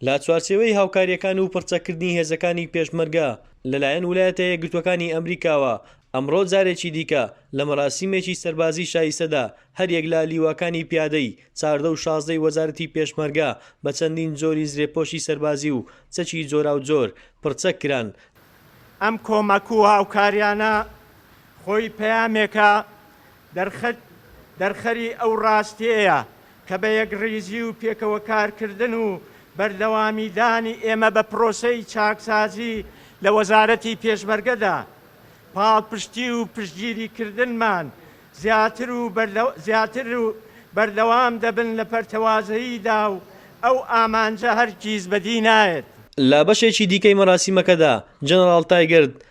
لە چوارچێوەی هاوکارییەکان و پڕچەککردنی هێزەکانی پێشمەرگە لەلایەن ولایەتە یەکگرتووەکانی ئەمریکاوە، ئەمڕۆ جارێکی دیکە لە مەراسیمێکی سەربازی شایستەدا هەریەک لە لیواکانی پیادەی چاردە و شازدە ی وەزارەتی پێشمەرگە بە چەندین جۆری زرێپۆشی سەربازی و چەکی جۆراوجۆر پڕچەک کران. ئەم کۆمەک و هاوکارییانە خۆی پەیامێکە دەرخەت دەرخەری ئەو ڕاستیەیە کە بە یەکڕیزی و پێکەوە کارکردن و بەردەوامی دانی ئێمە بە پرۆسەی چاکسازی لە وەزارەتی پێشمەرگەدا، پاڵپشتی و پشتگیری کردنمان زیاتر و زیاتر بەردەوام دەبن لە پەرتەوازەییدا و ئەو ئامانجە هەرگیز بەدی نایەت. لە بەشێکی دیکەی مەراسیمەکەدا، جەنەڕاڵ تایگرت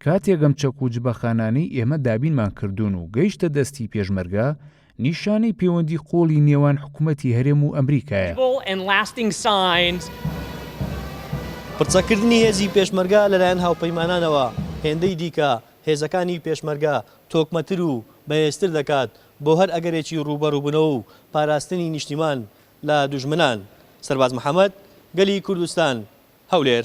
کاتێک ئەم چەک و جبەخانانەی ئێمە دابینمان کردوون و گەیشتە دەستی پێشمەرگە، نیشانەی پێوەندی قوڵی نێوان حکومەتی هەرێم و ئەمریکایە. پڕچەککردنی هێزی پێشمەرگە لەلایەن هاوپەیمانانەوە، هێندەی دیکە هێزەکانی پێشمەرگە تۆکمەتر و بەهێزتر دەکات بۆ هەر ئەگەرێکی ڕووبەڕووبوونەوە و پاراستنی نیشتیمان لە دوژمنان، سەرباز محەمەد، گەلی کوردستان، هەولێر.